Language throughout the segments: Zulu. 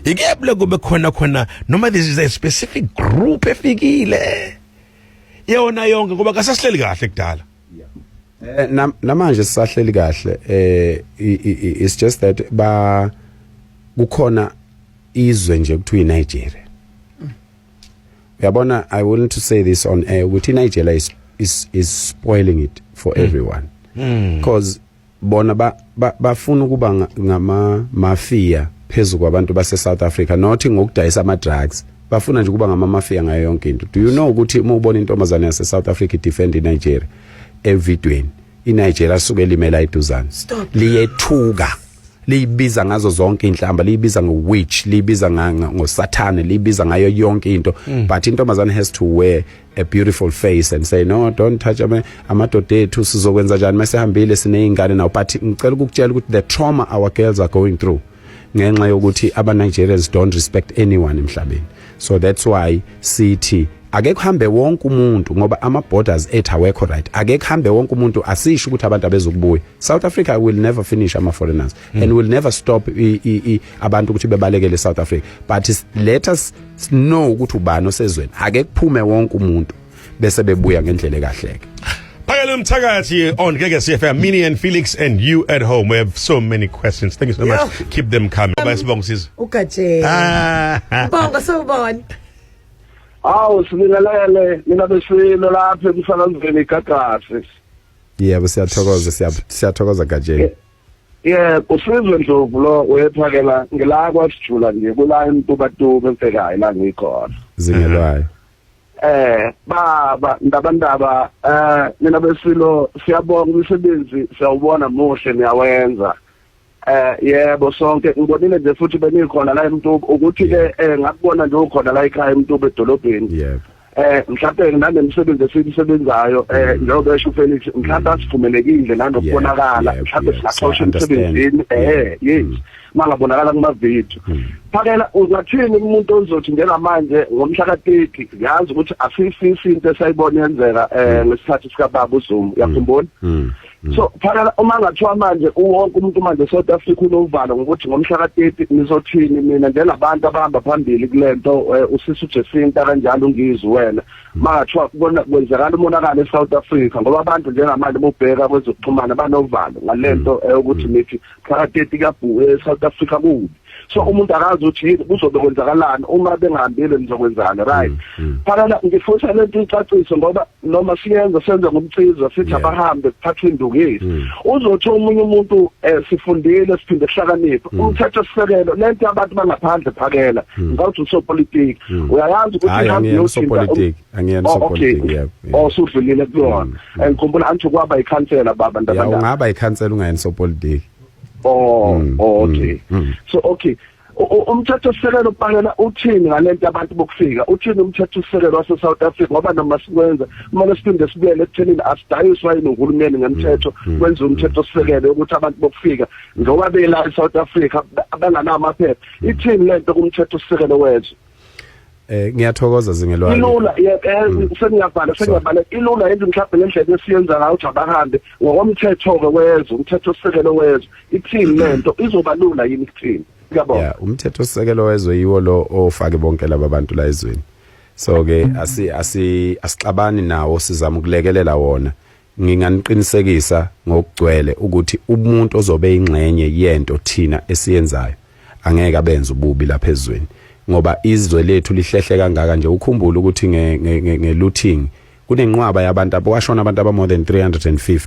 ikuyabula kube khona khona noma this is a specific group efikile yona yonke ngoba kasasihleli kahle kudala eh, namanje sisahleli kahle eh it's just that ba kukhona izwe nje kuthiwa iNigeria uyabona i want to say this on air ukuthi iNigeria is is is spoiling it for mm. everyone because mm. bona ba, ba, bafuna ukuba ngama mafia phezu kwabantu base South Africa not ngokudayisa ama drugs bafuna nje ukuba ngama mafia ngayo yonke into do you know ukuthi uma ubona intombazane yase South Africa defend in Nigeria evidweni iNigeria suke limela iduzane liyethuka liyibiza ngazo zonke inhlamba liyibiza ngo witch liyibiza ngosathane liyibiza ngayo yonke into mm. but intombazane has to wear a beautiful face and say no don't touch ama amadoda ethu sizokwenza kanjani masehambile sinezingane nawo but ngicela ukukutshela ukuthi the trauma our girls are going through ngenxa yokuthi aba Nigerians don't respect anyone emhlabeni so that's why sithi ake kuhambe wonke umuntu ngoba ama borders ethu awekho right ake kuhambe wonke umuntu asisho ukuthi abantu abezokubuya South Africa will never finish ama foreigners mm. and will never stop i, i, i, abantu ukuthi bebalekele South Africa but let us sino ukuthi ubani osezweni ake kuphume wonke umuntu bese bebuya ngendlela ekahleke Phakela umthakathi on Gege CFM Mini and Felix and you at home we have so many questions thank you so much yeah. keep them coming um, bayisibonga sizo ugaje ah. bonga so bon Awu sibingelele mina besilo lapha emsakazweni igagasi Yebo siyathokoza siyathokoza gajeni ye usizwe ndlovu lo uyephakela ngila kwasijula nje kula emtubatuba emfekayo la ngikhona zingelwayo eh baba ndaba ndaba eh nina besilo siyabonga umsebenzi siyawubona muhle niyawenza eh yebo sonke ngibonile nje futhi benikhona la emtuba ukuthi ke eh ngakubona nje ukhona la ekhaya emtuba edolobheni yebo eh mhlawumbe nanemsebenzi esiyisebenzayo eh mm. njengoba esho Felix mhlawumbe asivumelekile nanokubonakala mhlawumbe singaxosha emsebenzini eh mm. yes mangabonakala kuma video mm. phakela uzathini umuntu ozothi njengamanje ngomhla ka 30 ngiyazi ukuthi asifisi into esayibona yenzeka eh ngesikhathi sika baba uZuma yakhumbula so mm. phakala uma ngathiwa manje uwonke umuntu manje South Africa unovalo ngokuthi ngomhla ka-30 nizothini mina njengabantu abahamba phambili kule nto eh, usisi uJesinta kanjalo ungizwe wena mm. mangathiwa kwenzakala umonakalo e-South Africa ngoba abantu njengamanje bobheka kwezokuxhumana banovalo ngale mm. nto eh, ukuthi nithi phakathi kabhuku eSouth Africa kubi so umuntu akazi ukuthi yini kuzobe kwenzakalani uma bengahambile nizokwenzani right mm, mm. phakala ngifuna lento icacise ngoba noma siyenza senza ngomciza sithi abahambe kuphatha indukisi mm. uzothi omunye umuntu eh, sifundile siphinde sihlakaniphe umthetho sisekelo lento abantu bangaphandle phakela ngawuthi usopolitiki uyayazi ukuthi ihambe yoshintsha angiyena oh, okay. yep, yep. oh sudlulile kulona mm, mm. and ngikhumbula angithi kwaba ikhansela baba ndaba yeah, ungaba ikhansela ungayena sopolitiki oh mm, oh mm, okay mm, mm. so okay umthetho sisekelo ubhalela uthini ngalento abantu bokufika uthini umthetho sisekelo wase South Africa ngoba noma sikwenza kumele siphinde sibuyele ekuthenini asidayiswa yini uhulumeni ngemthetho mm, mm, kwenza mm. umthetho sisekelo ukuthi abantu bokufika njengoba bela eSouth Africa abanganamaphepha ithini lento kumthetho sisekelo wethu Eh ngiyathokoza zingelwane. Ilula yeke mm. sengiyabhala sengiyabhala ilula yenza mhlawumbe ngendlela esiyenza ngayo ukuthi abahambe ngokomthetho ke wezwe umthetho osekelo wezwe ithini lento izoba lula yini kuthini ngiyabona. Yeah umthetho osekelo wezwe yiwo lo ofake bonke laba bantu la ezweni. So ke asi asi asixabani nawo sizama ukulekelela wona. Nginganiqinisekisa ngokugcwele ukuthi umuntu ozobe ingxenye yento thina esiyenzayo angeke abenze ububi lapha ezweni ngoba izwe lethu lihlehle kangaka nje ukhumbula ukuthi nge-looting kunenqwaba yabantu abashona abantu aba-more than 350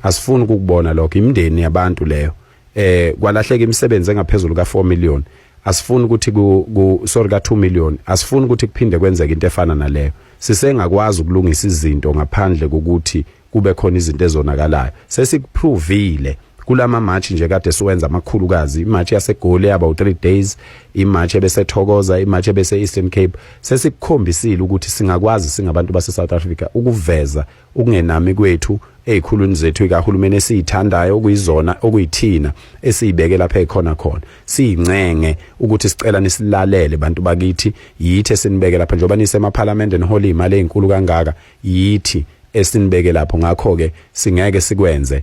asifuni ukukubona lokho imindeni yabantu leyo eh kwalahleka imisebenzi engaphezulu ka 4 million asifuni ukuthi ku sorry ka 2 million asifuni ukuthi kuphinde kwenzeke into efana naleyo sisengakwazi ukulungisa izinto ngaphandle kokuthi kube khona izinto ezonakalayo sesikuphrovile kulama match nje kade siwenza amakhulukazi imatch yasegoli yaba u3 days imatch ebesethokoza imatch ebese Eastern Cape sesikukhombisile ukuthi singakwazi singabantu base South Africa ukuveza ukungenami kwethu ezikhulwini zethu ikahulumeni esiyithandayo okuyizona okuyithina esiyibeke lapha ekhona khona siyincenge ukuthi sicela nisilalele bantu bakithi yithi esinibeke lapha njengoba nisemaphalamende nihola imali ezinkulu kangaka yithi esinibeke lapho ngakho ke singeke sikwenze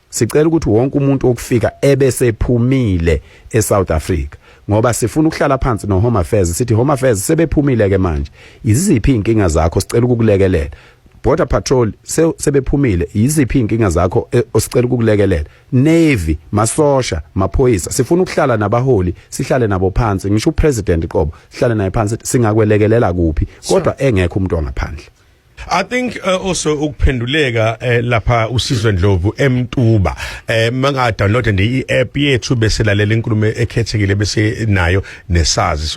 sicela ukuthi wonke umuntu okufika ebesephumile eSouth Africa ngoba sifuna ukuhlala phansi no Home Affairs sithi Home Affairs sebephumile ke manje iziphi inkinga zakho sicela ukukulekelela border patrol sebephumile yiziphi inkinga zakho e, osicela ukukulekelela navy masosha maphoyisa sifuna ukuhlala nabaholi sihlale nabo phansi ngisho upresident qobo sihlale naye phansi singakwelekelela kuphi kodwa engekho umuntu ongaphandle I think uh, also ukuphenduleka uh, lapha usizwe Ndlovu emtuba eh manga download nje i-app yethu bese lalela inkulumo ekhethekile bese nayo nesazi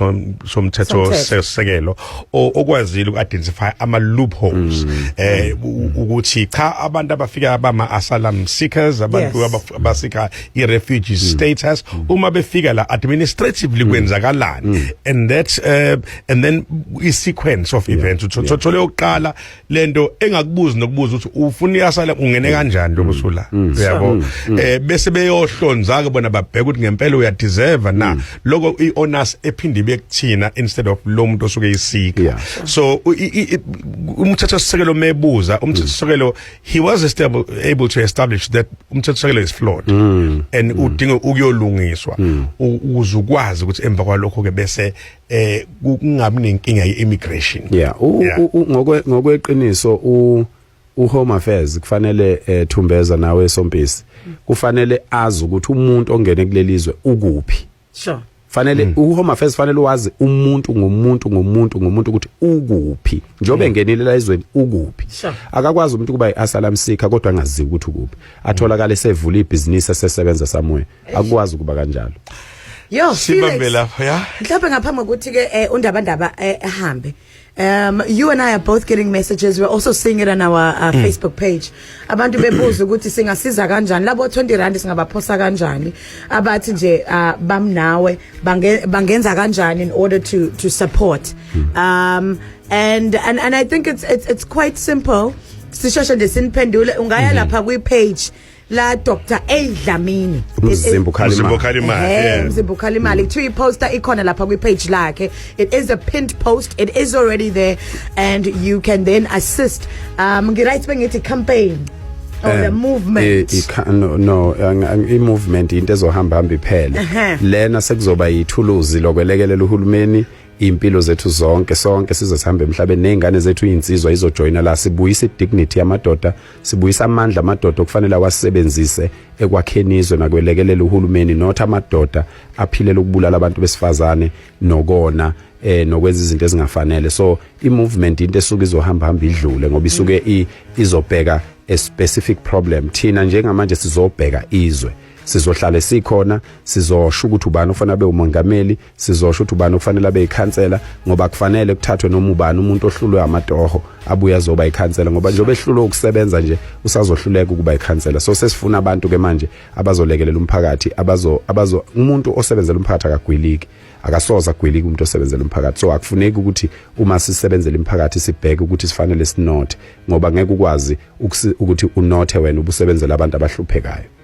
somthetho sesekelo okwazile uku-identify ama loopholes mm. eh ukuthi cha abantu abafika abama asylum seekers abantu abasika i refugee mm. status mm. uma befika la administratively kwenzakalani and that uh, and then i sequence of events uthole oqala lento engakubuzi nokubuza ukuthi ufuna iyasala ungene mm. kanjani lo kusula mm. mm. uyabo eh bese beyohlonza ke bona babheka ukuthi ngempela uya deserve na lokho i honors ephinde ibe kuthina instead of lo muntu osuke isika so umthetho sisekelo mebuza umthetho sisekelo he was stable able to establish that umthetho sisekelo is flawed and udinga ukuyolungiswa uzukwazi ukuthi emva kwalokho ke bese eh kungabi nenkinga yeimmigration yeah ngokwe ngokweqiniso u u home affairs kufanele ethumbeza eh, nawe esompisi kufanele azi ukuthi umuntu ongene kulelizwe ukuphi sure fanele mm. uhome affairs fanele wazi umuntu ngomuntu ngomuntu ngomuntu ukuthi ukuphi njobe mm. ngenile la izweni ukuphi sure. akakwazi umuntu kuba iasylum seeker kodwa angazi ukuthi ukuphi atholakala esevula ibhizinisi esesebenza somewhere akwazi ukuba kanjalo yo sibambe lapha ya mhlawumbe ngaphambi kokuthi ke eh, undaba ndaba eh, ehambe Um, you and I are both getting messages. We're also seeing it on our uh, mm. Facebook page. Abantu bebuza ukuthi singasiza kanjani labo 20 rand singabaphosa kanjani. Abathi nje uh, bamnawe bangenza kanjani in order to to support. Mm. Um and and and I think it's it's it's quite simple. Sishoshe nje siniphendule ungaya mm-hmm. lapha kwi page la Dr A Dlamini Mzimba ukhala Mzimba ukhala imali eh Mzimba ukhala imali kuthiwa iposter ikhona lapha kwi page lakhe it is a pinned post it is already there and you can then assist um ngi right bengithi campaign or the eh, movement i no no i movement into ezohamba hamba iphele lena sekuzoba yithuluzi lokwelekelela uhulumeni impilo zethu zonke sonke size sihambe emhlabeni nezingane zethu izinsizwa izojoyina la sibuyisa idignity yamadoda sibuyisa amandla amadoda okufanele awasebenzise ekwakheni izwe nakwelekelela uhulumeni not amadoda aphilela ukubulala abantu besifazane nokona eh nokwenza izinto ezingafanele so i movement into esuke izohamba hamba idlule ngoba isuke izobheka a specific problem thina njengamanje sizobheka izwe sizohlale sikhona sizosho ukuthi ubani ofanele abe umongameli sizosho ukuthi ubani okufanele abe ikhansela ngoba kufanele kuthathwe noma ubani umuntu ohlulwe amatoho abuye azoba ikhansela ngoba njengoba ehlulwe ukusebenza nje usazohluleka ukuba ikhansela so sesifuna abantu ke manje abazolekelela umphakathi abazo abazo umuntu osebenzela umphakathi akagwiliki akasoza agwilike umuntu osebenzela umphakathi so akufuneki ukuthi uma sisebenzela imphakathi sibheke ukuthi sifanele sinothe ngoba ngeke ukwazi ukuthi unothe wena ubusebenzela abantu abahluphekayo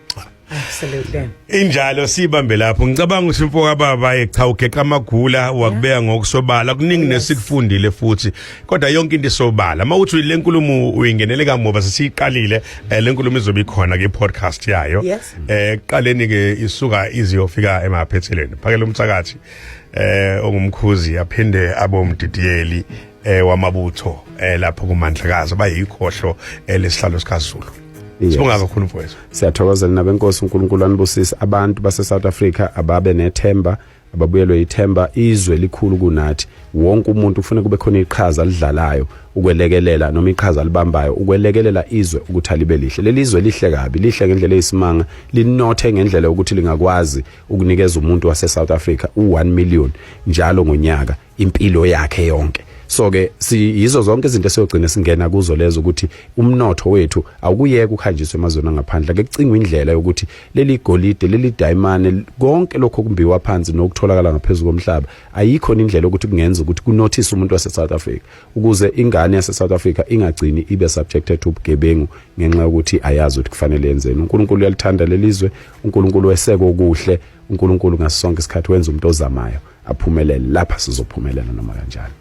Absolutely. Injalo sibambe lapho ngicabanga ukuthi mfo kababa echa ugeqa amagula wakubeka ngokusobala kuningi nesikufundile futhi kodwa yonke into isobala mawuthi le nkulumo uyingenele kamuva sesiyiqalile eh, le nkulumo izobe ikhona ke podcast yayo eh qaleni ke isuka iziyofika emaphethelweni phakela umthakathi eh ongumkhuzi aphinde abomdidiyeli eh wamabutho eh lapho kumandlakazi bayikhohlo eh, lesihlalo sikaZulu sibonga kakhulu mfowethu siyathokozela nabenkosi uNkulunkulu anibusise abantu base South Africa ababe nethemba ababuyelwe ithemba izwe likhulu kunathi wonke umuntu ufuna kube khona iqhaza lidlalayo ukwelekelela noma iqhaza libambayo ukwelekelela izwe ukuthi alibe lihle leli izwe lihle kabi lihle ngendlela eyisimanga linothe ngendlela ukuthi lingakwazi ukunikeza umuntu wase South Africa u1 million njalo ngonyaka impilo yakhe yonke so ke siyizo zonke izinto esiyogcina singena kuzo lezo ukuthi umnotho wethu awukuyeka uhanjiswe emazweni angaphandle ke kucingwa indlela yokuthi leli golide leli diamond konke lokho kumbiwa phansi nokutholakala ngaphezulu komhlaba ayikho indlela yokuthi kungenza ukuthi kunothise umuntu wase South Africa ukuze ingane yase South Africa ingagcini ibe subjected to ubugebengu ngenxa yokuthi ayazi ukuthi kufanele yenzeni uNkulunkulu uyalithanda lelizwe uNkulunkulu weseke okuhle uNkulunkulu ngasonke isikhathi wenza umuntu ozamayo aphumelele lapha sizophumelela noma kanjani